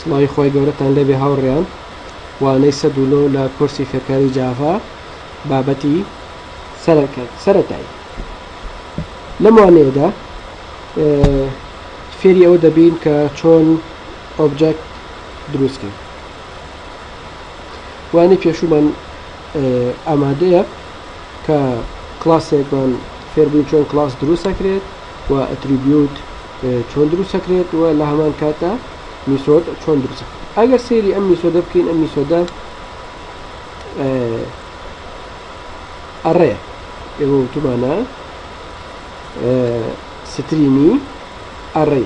سڵاوی خۆی گەورەتان لێبێ هاوڕێیان وانەی سە دوولۆ لە کورسی فێرکاری جاڤا بابەتی سەرەتایی لەم وانەیەدا فێری ئەوە دەبین کە چۆن ئۆبجەکت دروست کرد وانی پێشومان ئامادەیە کە کلاسێکمان فێربووین چۆن کلاس دروست دەکرێت و ئەتریبیوت چۆن دروست دەکرێت و لە هەمان کاتە میسۆد چۆن دروست ئەگەر سێری ئەم میسۆدە بکەین ئەم میسۆدە ئەڕێ ئێوە وتمانە سترینی ئەڕێ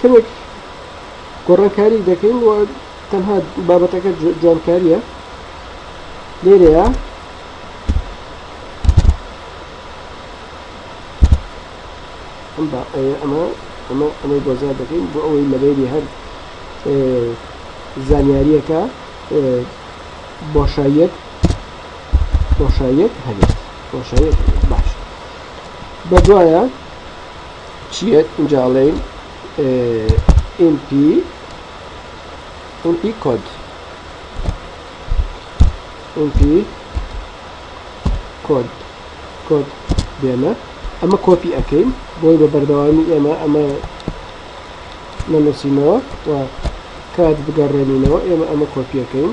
کەمێک گۆڕانکاری دەکەین و تەنها بابەتەکە جوانکاریە لێرەیە ئەمە ئەمە ئەمە ئەمەی بۆزار دەکەین بۆ ئەوەی لەبێری هەر زانیاریەکە بۆشاییەت بۆشاییەک هەبێت بۆشاییەک هەبێت باش بە دوایە چیەت ئینجاڵین MP MP کۆد MP کۆد کۆد بێنە ئەمە کۆپی ئەەکەین بۆی بە بەردەوامی ئێمە ئەمە نەنووسینەوە و کات بگەڕێنینەوە ئێمە ئەمە کۆپیەکەین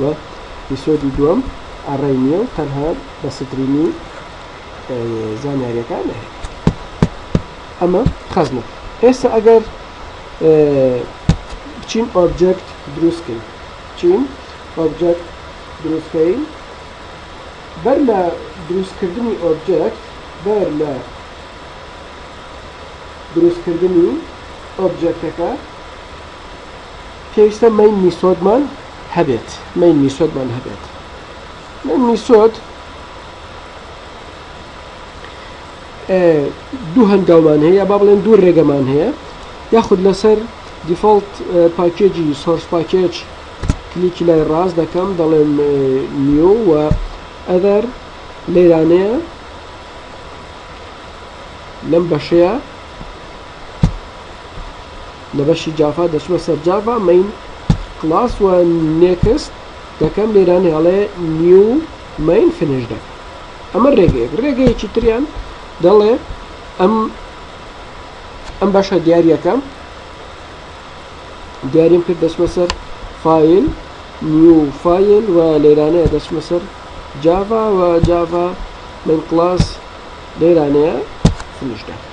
وە ئیپیسۆدی دووەم ئەڕای نییە و تەنها بە سترینی زانیاریەکان نەهێت ئەمە خەزنە ئێستا ئەگەر بچین ئۆبجەکت دروستکەین چین ئۆبجەکت دروستکەین بەر لە دروستکردنی ئۆبجەکت بەر لە دروستکردنی ئۆبجەکتەکە پێویستە مین میسۆدمان هەبێت مین میسۆدمان هەبێت مین میسۆد دوو هەنگاومان هەیە با بڵێن دوو ڕێگەمان هەیە یاخود لەسەر دیفۆلت پاکێجی سۆرس پاکێج کلیکی لای ڕاست دەکەم دەڵێم نیو و ئەدەر لێرانەیە لەم بەشەیە لە بەشی جافا دەچمە سەر جافا مین کلاس و نێکست دەکەم لێران هەڵێ نیو مین فنش دەکەم ئەمە ڕێگەیەک ڕێگەیەکی تریان دەڵێ ئەم ئەم بەشە دیارەکەم دیاریم کرد دەچمە سەر فیل نیو فیل و لێرانەیە دەچمە سەر جافا و جافا من کلاس لێرانەیە فنش دەکەم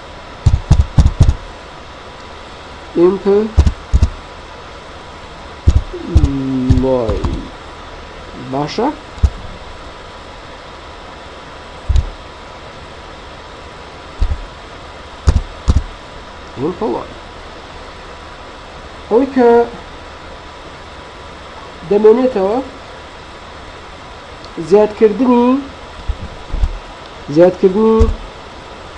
ئیمپ باشە ئەوەڵ ئەوەی کە دەمێنێتەوە زیادکردنی زیادکردنی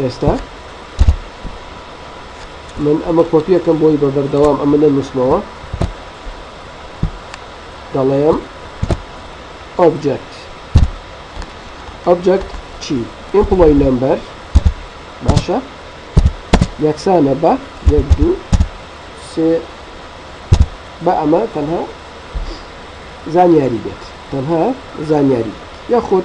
ئێستا من ئەمە کۆپیەکەم بۆی بە بەردەوام ئەمە نەنووسمەوە دەڵێم ئۆبجەکت ئۆبجەکت چی ئیمپلۆی نمبەر باشە یەکسانە بە یەک دوو سێ بە ئەمە تەنها زانیاری بێت تەنها زانیاری یاخود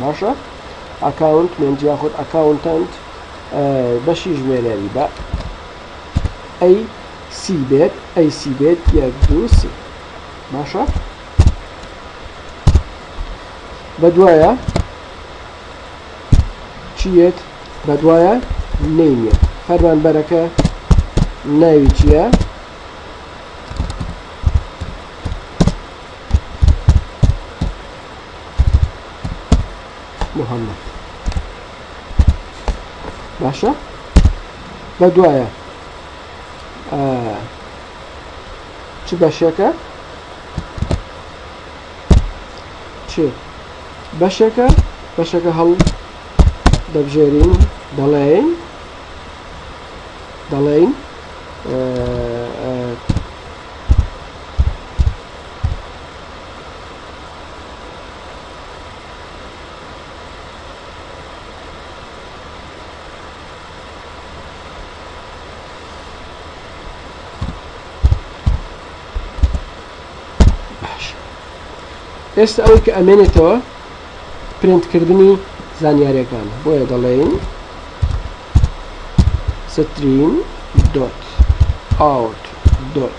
باشە ئەکاونت مێنج یاخود ئەکاونتەنت بەشی ژمێرێری بە ئەی سی بێت ئەی سی بێت یەک دوو سی باشە بە دوایە چیت بە دوایە نینە فەرمانبەرەکە ناوی چییە؟ محمد باشە بە دوایە چ بەشێکە چ بەشێکە بەشەکە هەڵ دەبژێرین دەڵێین دەڵێین ئێستا ئەوەی کە ئەمێنێتەوە پرنتکردنی زانیارەکان بۆیە دەڵێین ستریم دۆت ئاوت دۆت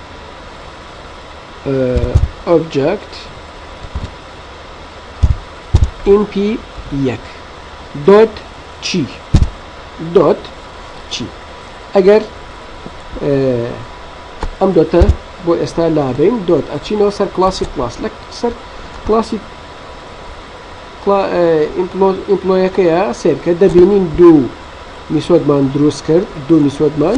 ئۆبجەکت ئینپ یەک دۆت چی دۆت چی ئەگەر ئەم دۆتە بۆ ئێستا لابین دۆت ئەچینەوە سەر کلاسی کلاس لە سەر کلاسی ئیمپلۆیەکەیە سێرکە دەبینین دوو میسۆدمان دروست کرد دوو میسۆدمان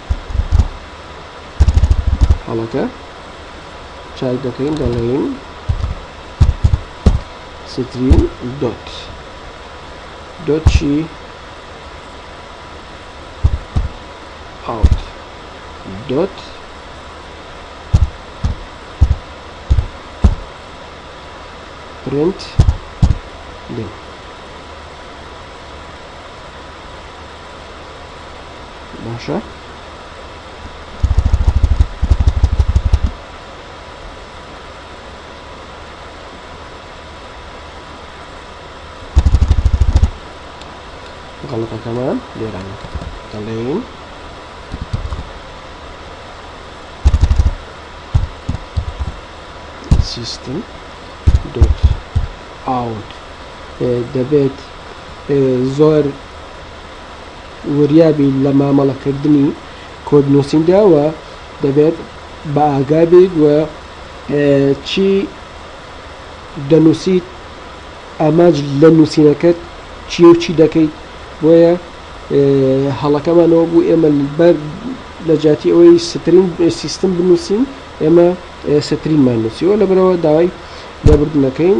هەڵەکە چاک دەکەین دەڵێین ستریم دۆت دۆچی ئاوت دۆت پرنت لێ باشە غەڵەتەکەمان لێران دەڵێین سیستم دوت ئاوت دەبێت زۆر وریابی لە مامەڵەکردنی کۆد نووسیندا و دەبێت بە ئاگابیت و چی دەنووسیت ئامانج لە نووسینەکەت چی و چی دەکەیت بۆیە هەڵەکەمانەوە بوو ئێمە بەر لە جاتی ئەوەی سترین سیستم بنووسین ئێمە سترینمان نووسیەوە لە برەوە داوای لێبردنەکەین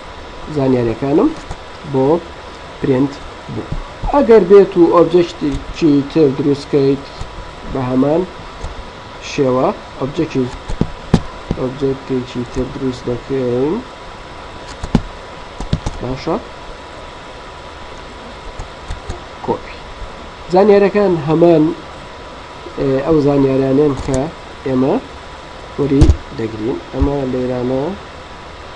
زانیاریەکانم بۆ پرینت بوو ئەگەر بێت و ئۆبجێکتێکی تر دروستکەیت بە هەمان شێوە ئۆبجێکی ئۆبجێکتێکی تر دروست دەکەین باشە کۆپی زانیارەکان هەمان ئەو زانیارانێن کە ئێمە وەری دەگرین ئەمە لێرانە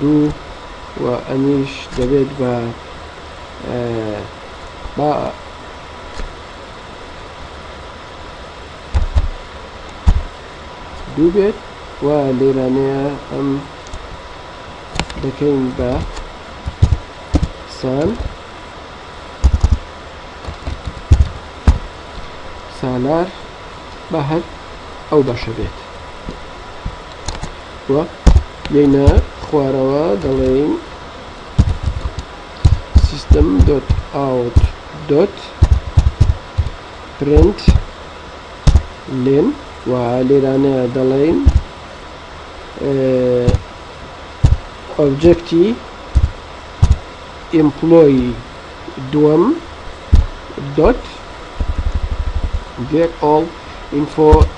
دوو و ئەمیش دەبێت بە با دوو بێت و لێرانەیە ئەم دەکەین بە سان سالار بە هەر ئەو بەشە بێت و یەینە خوارەوە دەڵێین سیستم دۆت ئاوت دۆت پرنت لێن و لێرانە دەڵێین ئۆبجەکتی ئیمپلۆی دووەم دۆت گێت ئۆڵ ئینفۆ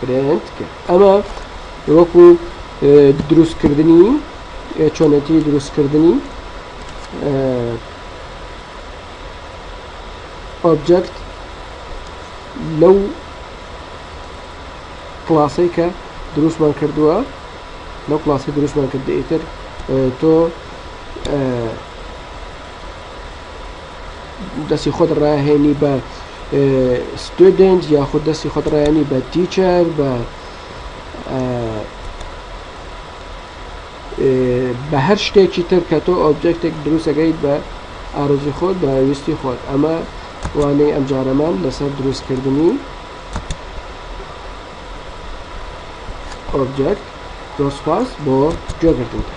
پرنت کرد ئەمە وەکو دروستکردنی چۆنێتی دروستکردنی ئۆبجەکت لەو کلاسەی کە دروستمان کردووە لەو کلاسی دروستمان کردئیتر تۆ دەستی خۆت ڕاهێنی بە ستودنت یاخود دەستی خۆت ڕایانی بە تیچەر بە بە هەر شتێکی تر کە تۆ ئۆبجێکتێک دروستەکەیت بە ئارزی خۆت بە ویستی خۆت ئەمە وانەی ئەمجارەمان لەسەر دروستکردنی ئۆبجێکت زۆر سپاس بۆ گوێگرتنتە